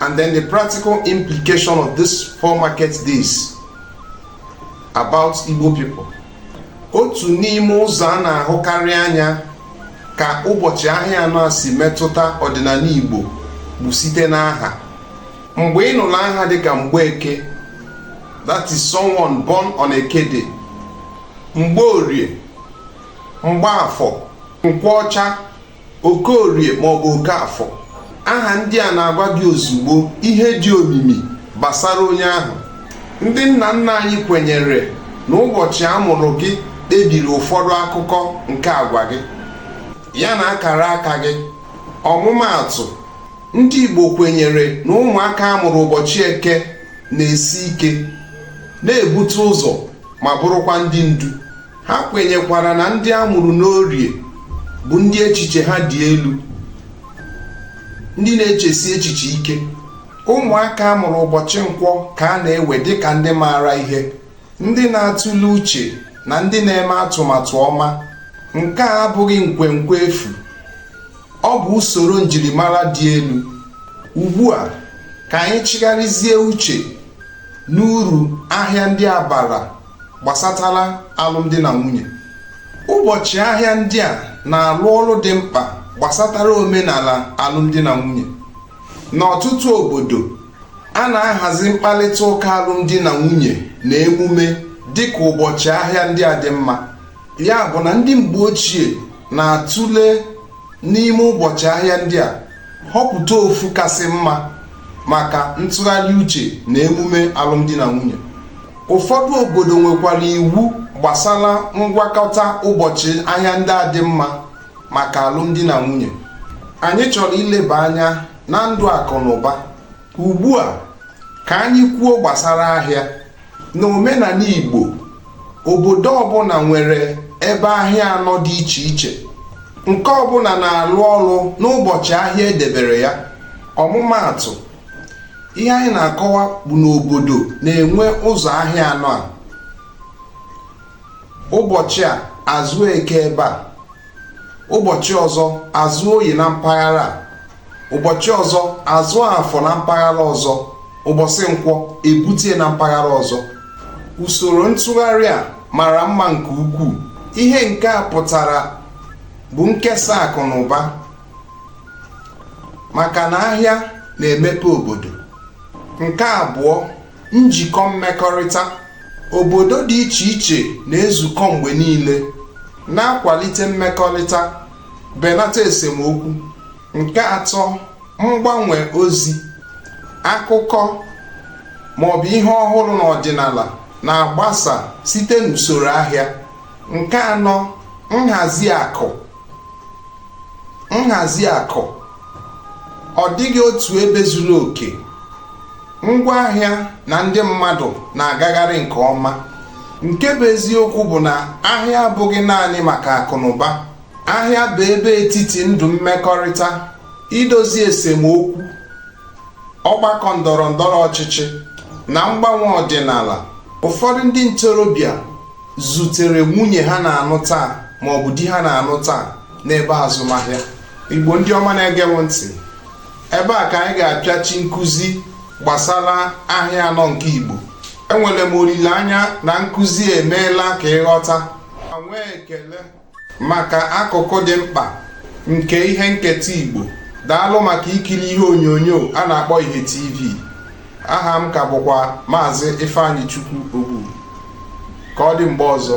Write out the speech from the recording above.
And then the practical implication of this four market days about Igbo people. Otu n'ime ụzọ a na-ahụkarị anya ka ụbọchị ahịa anọ a si metụta ọdịnala Igbo bụ site n'aha. Mgbe ị nụrụ aha dịka Mgbeke, that is someone born on Eke Day, Mgbeorie, Mgbafọ, Nkwọcha okorie maọbụ okafọ aha ndị a na-agwa gị ozugbo ihe dị omimi gbasara onye ahụ ndị nna nna anyị kwenyere na ụbọchị a mụrụ gị kpebiri ụfọdụ akụkụ nke agwa gị ya na akara aka gị ọmụmaatụ ndị Igbo kwenyere na ụmụaka a mụrụ ụbọchị eke na-esi ike na-ebute ụzọ ma bụrụkwa ndị ndu ha kwenyekwara na ndị a mụrụ n'orie bụ ndị echiche ha dị elu ndị na-echesi echiche ike ụmụaka a mụrụ ụbọchị nkwọ ka a na-ewe dịka ndị maara ihe ndị na-atụle uche na ndị na-eme atụmatụ ọma nke a abụghị nkwenkwe efu ọ bụ usoro njirimara dị elu ugbu a ka anyị chịgharịzie uche n'uru ahịa ndị a bara gbasatara alụmdi na nwunye ụbọchị ahịa ndị a na-alụ ọrụ dị mkpa gbasatara omenala alụmdi na nwunye n'ọtụtụ obodo a na-ahazi mkparịta ụka alụmdi na nwunye na emume dịka ụbọchị ahịa ndị a dị mma ya bụ na ndị mgbe ochie na-atụle n'ime ụbọchị ahịa ndị a họpụta ofu kasị mma maka ntụgharị uche na emume alụmdi na nwunye ụfọdụ obodo nwekwara iwu gbasara ngwakọta ụbọchị ahịa ndị a dị mma maka alụmdi na nwunye anyị chọrọ ileba anya na ndụ akụ na ụba ugbu a ka anyị kwuo gbasara ahịa n'omenala Igbo obodo ọbụla nwere ebe ahịa anọ dị iche iche nke ọbụla na-alụ ọrụ n'ụbọchị ahịa e debere ya ọmụmaatụ ihe anyị na-akọwa bụ na obodo na-enwe ụzọ ahịa anọ a ụbọchị a a zụọ eke ebe a ụbọchị ọzọ a zụọ oyi na mpaghara a ụbọchị ọzọ a zụọ afọ na mpaghara ọzọ ụbọchị nkwọ e butie na mpaghara ọzọ usoro ntụgharị a mara mma nke ukwuu ihe nke a pụtara bụ nkesa akụ na ụba maka na ahịa na-emepe obodo nke abụọ njikọ mmekọrịta obodo dị iche iche na-ezukọ mgbe niile na-akwalite mmekọrịta belata esemokwu. Nke atọ, mgbanwe ozi, akụkọ maọbụ ihe ọhụrụ n'ọdịnala na-agbasa site n'usoro ahịa. Nke anọ, nhazi akụ, nhazi akụ ọ dịghị otu ebe zuru oke ngwa ahịa na ndị mmadụ na-agagharị nke ọma nke bụ eziokwu bụ na ahịa abụghị naanị maka akụnụba ahịa bụ ebe etiti ndụ mmekọrịta idozi esemokwu ọgbakọ ndọrọ ndọrọ ọchịchị na mgbanwe ọdịnala ụfọdụ ndị ntorobịa zutere nwunye ha na-anụ taa maọbụ di ha na-anụ taa n'ebe azụmahịa igbo ndị ọma na-ege m ntị ebe a ka anyị ga-apịachi nkụzi gbasara ahịa anọ nke igbo enwere m olileanya na nkụzi emeela ka ị ghọta ma nwee ekele maka akụkụ dị mkpa nke ihe nketa igbo daalụ maka ikiri ihe onyonyo a na-akpọ ihe tv aha m ka bụkwa maazị ifeanyịchukwu ogbu ka ọ dị mgbe ọzọ